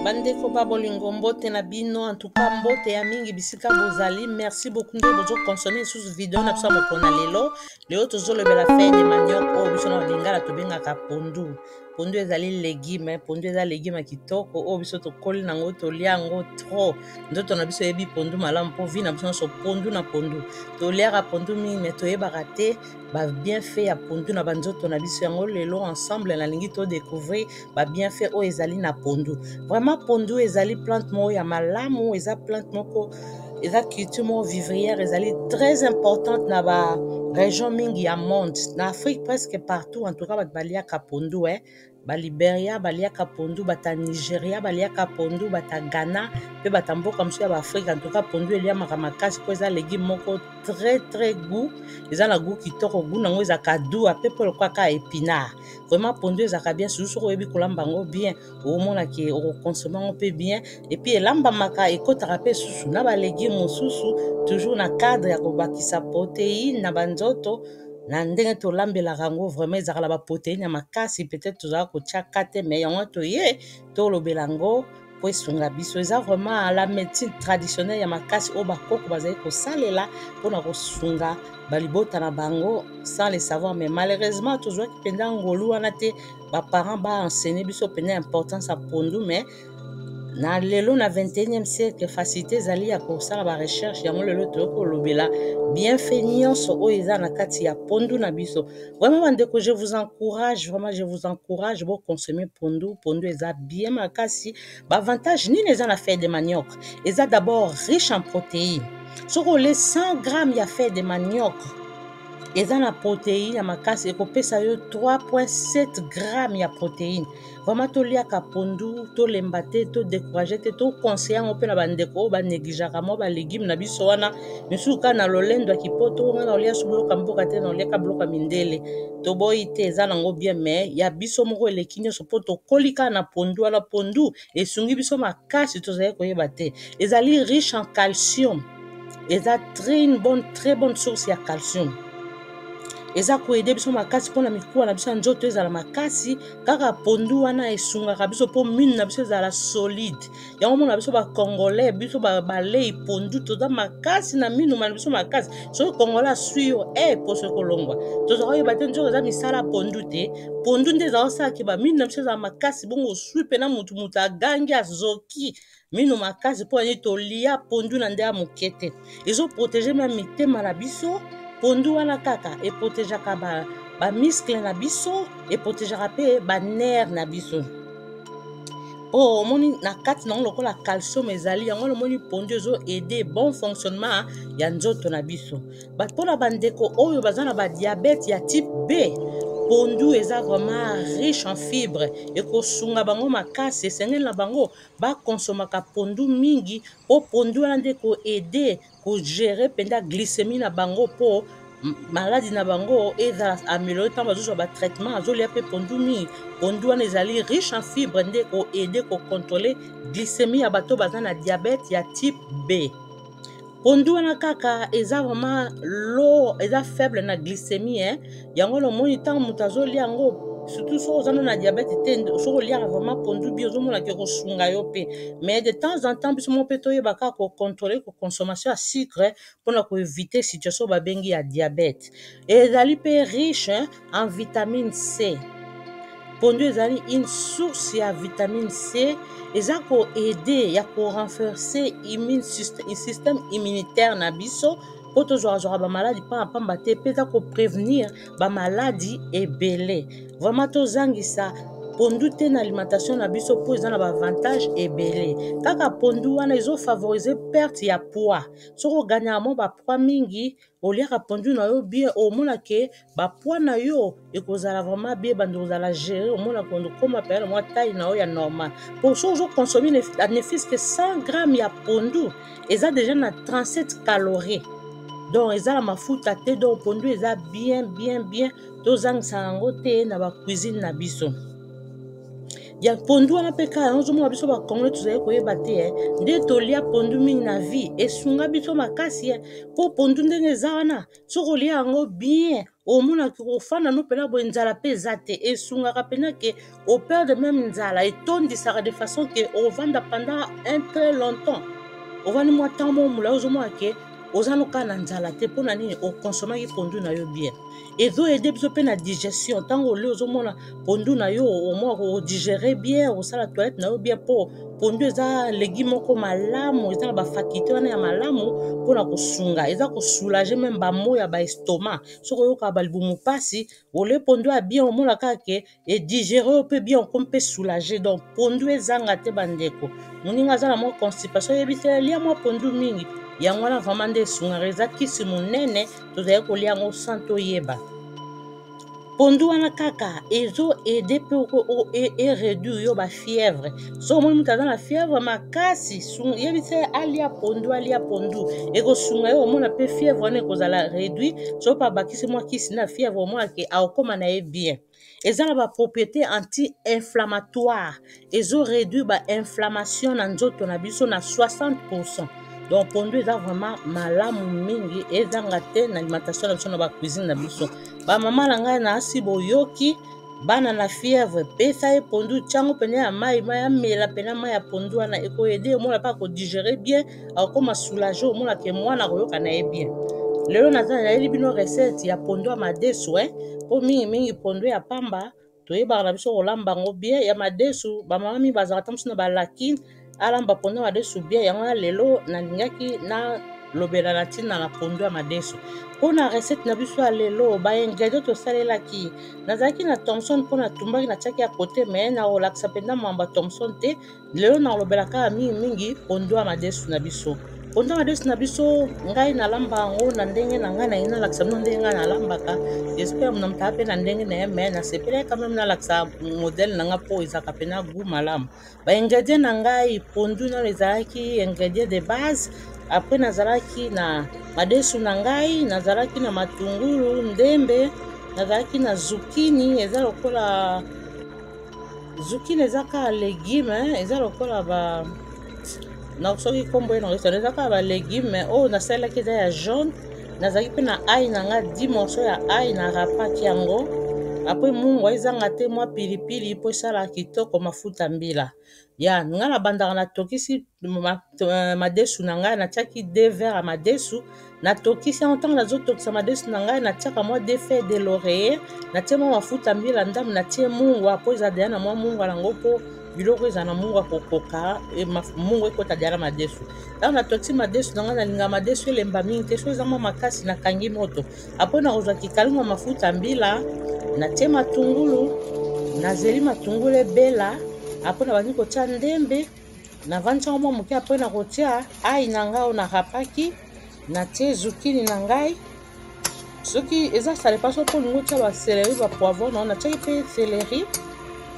bandeko ba bolingo mbote na bino antuka mbote ya mingi bisika bozali merci beaucoup nde bozokonsome lisusu video na biso ya mokona lelo lelo tozolobela fai de maniok oyo biso na balingala tobengaka pondu pondu ezali legume pondu eza legume kitoko oyo biso tokoli nango tolia yango trop nzoto na biso eyebi pondu malamu mpo vi na biso nyonso pondu na pondu toliaka pondu mingi me toyebaka te babienfait ya pondu na banzoto na biso yango lelo ensemble nalingi todécouvrir babienfait oyo ezali na pondu vraiment pondu ezali plante moko ya malamu eza plante moko eza culture moko vivrière ezali très importante na ba région mingi ya monde na afrique presque partout en tout cas bato baliaka pondu eh? baliberia baliaka pondu bata nigeria baliaka pondu bata ghana mpe bata mboka mosusu ya baafrika ntoka pondu eliamaka makasi mpo eza legume moko très très goût eza na goût kitoko goût nango ezalaka dua mpe mpo lokola kaka epinard vraiment pondu ezalaka bien susu soki oyebi kolamba yango bien okomona ke okokonsome yango mpe bien epuis elambamaka ekotaka mpe susu na balegume mosusu toujours na cadre ya kobakisa proteine na banzoto na ndenge tolambelaka yango vraiment ezalaka na baproteine ya makasi peut-être tozalaka kotya ka te mai yango toye tolobela yango mpo esunga biso eza vraiment la médecine traditionnelle ya makasi oyo bakoko bazali kosalela mpo na kosunga balibota na bango sans le savoir mais malheureusement tozwaki mpenza ngolu wana te baparent baenseigne biso mpenza importance ya pondu mais na lelo na 21e siècle facilité ezali ya kosala barecherche yango lelo toyokoloba bienfait nyonso oyo eza na kati ya pondu na biso Vraiment bandeko, je vous encourage, vraiment je vous encourage bo consommer pondu, pondu eza bien makasi. Ba avantage nini eza na feuille de manioc? Eza d'abord riche en protéines. Soki olie 100 grammes ya feuille de manioc, eza na protéine ya makasi ekopesa yo 3.7 grammes ya protéine. vraiment toliaka pondu tolemba te todecourage te toconseille yango mpe na bandeko oyo banegligeaka mwa balegime na biso wana misusu kaka na lolendo ya kipoto nga na olia subuloka mboka te na oliaka buloka mindele toboyi te eza nango bien mai ya biso moko eleki nyonso mpo tokoli kaka na pondu wana pondu esungi biso makasi tozali koyeba te ezali riche en calcium eza très une bonne très bonne source ya calcium eza koede biso makasi mpona mikuwa na biso ya nzoto ezala makasi kaka pondu wana esungaka biso mpo mine na biso ezala solide yango omona biso bacongolais biso balei pondu toza makasi na minu na biso makasi soki congolais aswi yo e eh, poso ekolongwa toza koyeba te nzoka eza misala pondu te pondu nde eza kosalaki bamine na biso ezala makasi bongo oswi mpena motu motu agangi azoki mino makasi mpo ani tolia pondu na nde ya moke te ezoprotege mpe mitema na biso pondu wana kaka eprotegeaka bamiskle ba na biso eprotegeaka mpe banere na biso mpo oh, omoni na kati nango lokola calcium ezali yango wana omoni pondu ezo aide bon fonctionnement ya nzoto na biso but mpo na bandeko oyo baza na badiabete ya type b pondu eza vraiment riche en fibre ekosunga bango makasi esengeli na bango ba consommaka pondu mingi po pondu wana nde ko aide ko gerer mpenza glycemie na bango po maladi na bango ezala ameliore ntango bazozwa ba traitement azolia mpe pondu mingi pondu wana ezali riche en fibre nde ko aide ko controle glycemie ya bato baza na diabete ya type b pondu wana kaka eza vraiment lo eza faible na glycémie hein? yango na omoni ntango moto azolia yango surtout soki oza na diabète te soki oliaka vraiment pondu bi ozomona ke kosunga yo mpe mais de temps en temps biso moko mpe toyeba kaka kocontrole koconsommation ya sucre mpona koevite situation babengi ya diabète ezali mpe riche en vitamine C. Pondu ezali une source ya vitamine C eza ko aider ya ko renforcer immune système immunitaire na biso mpo tozwakazwaka bamaladi mpamba mpamba te mpe eza koprevenir bamaladi ebele vraimen tozangisa pondu te na alimentation na biso mpo eza na baavantage ebele kaka pondu wana ezofavorize perte ya poids soki oganyaka mwa bapoids mingi oliaka pondu na yo bien omona ke bapoids na yo ekozala vraiment bien bandi kozala gere omona kondo koma peyana mwa taille na yo ya normal po so ozo consomme nefis ke 100 gramme ya pondu eza deja na 37 calorie donc eza na mafuta te donc pondu eza bien bien bien tozangisa yango te na bacuisine na biso ya pondu wana mpe kaka ozomona biso bakongole tozali koyeba te eh. nde tolia pondu mingi na vie esunga biso makasi eh. mpo pondu ndenge eza wana soki olia yango bien omonaki kofanda no mpena boye nzala mpe eza te esungaka mpena ke operde meme nzala etondisaka de façon ke ovanda pendant un très longtemps ovandi mwa ntango mwa molai ozomona ke oza nokaa na nzala te mpo na nini okonsomaki pondu na yo bien ezo aide biso mpe na digestion ntango oli ozomona pondu na yo omwa kodigere bien osala toilette na yo bien mpo pondu eza legi moko malamu eza na bafakulte wana ya malamu mpona kosunga eza kosoulage meme bamo ya baestoma soki oyokaka balibumu mpasi ole pondu ya bien omona kaka ke e digere yo mpe bien okomi mpe soulage donc pondu ezanga te bandeko moninga aza na mwa constipation oyebi te lia mwa pondu mingi yango wana vraimen nde esungaka eza kisi monene tozali kolia yango sans toyeba pondu wana kaka ezo aide mpe ereduire e yo bafièvre soki omoni moto aza na fièvre makasi yebisa ye alia pondu alia pondu ekosunga ye omona mpe fièvre wana ekozala réduit soki mpe abakisi mwa kisi na fièvre omonake akokoma na ye bien eza na bapropriété anti-inflammatoire ezo réduire bainflammation na nzoto na biso na 60 pourcent donc pondu eza vraiment malamu mingi ezanga te na alimentation na biso na bacuisine na biso bamama na ngai na asi boyoki bana na fièvre pesa ye pondu tyango mpena ya mai mai amela mpena mai ya pondu wana ekoyede omona mpa kodigere bien akokoma soulage omona ke mwana akoyoka na ye bien lelo naza nayeli bino recette ya pondo ya madesu eh? mpo mingimingi pondo ya pamba toyebaka na biso kolamba yango bien ya madesu bamama mingi bazalaka ata mosu na balakine alamba pondo ya madesu bien yango ya lelo nalingaki na lobela na ntina na pondo ya madesu mpo na recette na biso ya lelo baingredient tosalelaki nazalaki na thomson mpo natumbaki natiaki ya kote me nakolakisa mpenza mwamba thomson te lelo nakolobela kaka mingimingi pondo ya madesu na biso pondo ya madesu na biso ngai nalamba yango na ndenge na ngai naye nalakisa bino ndenge ngai nalambaka jespere mona motala mpe na ndenge na ye me nasepelaki kame nalakisa modele na ngai mpo ezalaka mpena gout malamu baingredient na ngai pondu nano ezalaki ingredient de base apres nazalaki na madesu na ngai nazalaki na matungulu ndembe nazalaki na zukini eza lokola zukile eza kaka legume eza lokola ba na soki nkombo ye nango esana eza kaka ba legume oyo nasalelaki eza ya jaune nazalaki mpe na ai na nga 10 morceau ya ai na rapaki yango apres mungwa ezanga te mwa pilipili mpo esalaka kitoko mafuta mbila ya nga na bandaka na tokisi ma, euh, madesu na ngai natiaki de verre ya madesu na tokisi yango ntango nazotokisa madesu na ngai natiaka mwa de feuille de l'oreiller natie mwa mafuta mbila ndambo natie mungwa mpo eza deya na mwa mungwa nango mpo biloko eza na mungu akokoka e, mungu ekota deya na madesu ntango natokisi madesu na ngai nalinga madesu elemba mingi te so eza mwa makasi nakangi moto Après na kozwa kikalingo mafuta mbila, na tie matungulu, na zeli matungulu ebela, après na bandi kotia ndembe, na vandi yango mwa moke, après na kotia ayi na ngai oyo na rapaki, na tie zukini na ngai. Soki eza salepa soki olingi otia ba celery ba poivron na yo, na tiaki mpe celery,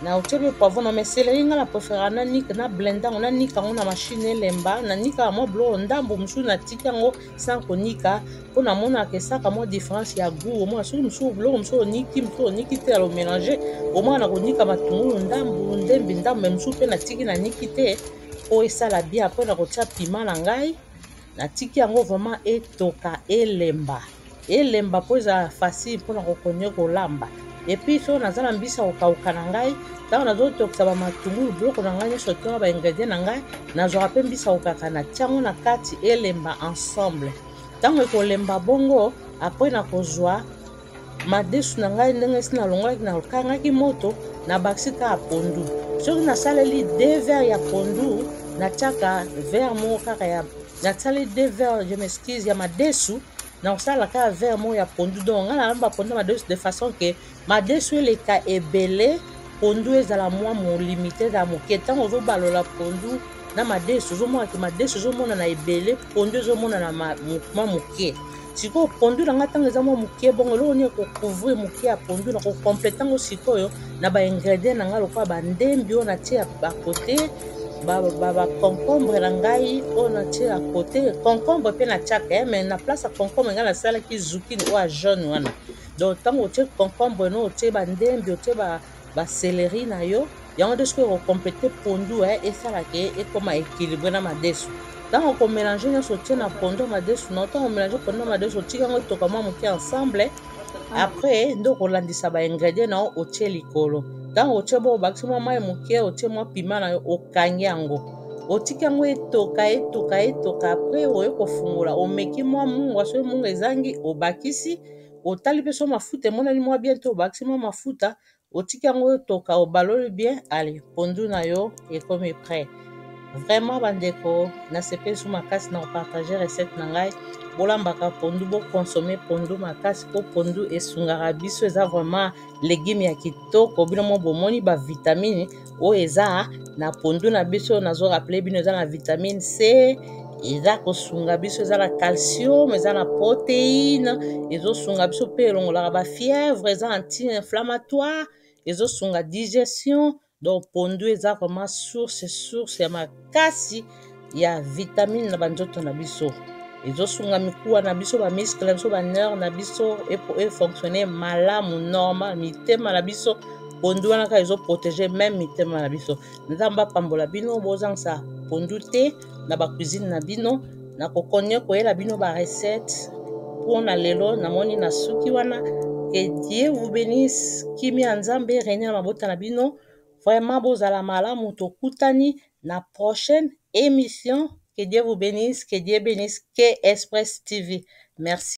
na otie mpe poivron na mais celery ngai na prefera na nika na blenda yango na nika yango na machine elemba, na nika yango mwa biloko ndambo mosusu na tiki yango sans konika mpo namonaka esaka mwa différence ya gout omona soki mosusu biloko mosusu oniki mosusu oniki te alo mélange omona na konika matungulu ndambu ndembi ndambu me mosusu mpe natiki naniki te mpo esala bien apres na kotia pima na ngai natiki yango vraiment etoka elemba elemba mpo eza facile mpo na kokonye kolamba epuis soki naza na mbisi ya kokauka na ngai ntango nazotokisa bamatungulu biloko na ngai nyonso tona baingredient na ngai nazwaka mpe mbisi ya kokaka na tiango na kati elemba ensemble ntango ekolemba bongo apres na kozwa madesu na ngai ndenge esi nalongolaki nakangaki moto nabakisi kaka pondu soki nasaleli de verre ya pondu natiaka verre moko kaka ya nasali de verre je m'excuse ya madesu nakosala kaka verre moko ya pondu donc ngai nalamba pondu ya madesu de façon ke madesu eleka ebele pondu ezala mwa molimite ezala moke ntango ozobalola pondu na madesu ozomona ke madesu ezomonana ebele pondu ezomonana mwa moke sikoyo pondu na ngai ntango eza mwa moke bongo eloko nini ekocouvrir moke ya pondu na kocomplete yango sikoyo na baingredient na ngai lokola bandembi oyo natie bakote baconcombre na ngai oyo natie ya kote concombre mpe natiaka ye eh, mai na place ya concombre ngai nasalaki zukini oyo ya jaune wana donc ntango otie concombre no otie bandembi otie ba celery na yo yango nde soki okocompete pondu eh, esala ke ekoma ekilibre na madesu ntango okomelange nyonso otie na pondu ya madesu na ntango omelange pondu ya madesu otika yango etoka mwa moke ensemble ah. après nde okolandisa baingredient na yo otie likolo ntango otie bo obakisi mwa mai moke otie mwa pima na yo okangi yango otiki yango etoka etoka etoka après oye kofungola omeki mwa mungwa soki mungwa ezangi obakisi otali mpe so mafuta emonani mwa bien te obakisi mwa mafuta otiki yango otoka obaloli bien ale pondu na yo ekomi prêt vraiment bandeko nasepeli so makasi na kopartage recette na ngai bolambaka pondu bokonsome pondu makasi mpo pondu esungaka biso eza vraiment legume ya kitoko bino mo bomoni bavitamine oyo eza na pondu na biso nazo rappele bino eza na vitamine c eza kosunga biso eza na calcium eza na protéine ezosunga biso mpe elongolaka bafièvre eza anti-inflammatoire ezosunga digestion donc pondu eza vraiment source source ya makasi ya vitamine na banzoto na biso ezosunga mikuwa na biso bamiskle na biso baneur na biso efonctionne malamu normal mitema na biso pondu wana kaka ezoprotege meme mitema na biso nzambe apambola bino bozangisa pondu te na bacuisine na bino na kokonye koyela bino barecette mpo na lelo namoni na suki wana que dieu vous benisse kimia ya nzambe renie na mabota na bino Vraiment bozala malamu tokutani na prochaine emission que Dieu vous benisse que Dieu benisse KS Press TV merci.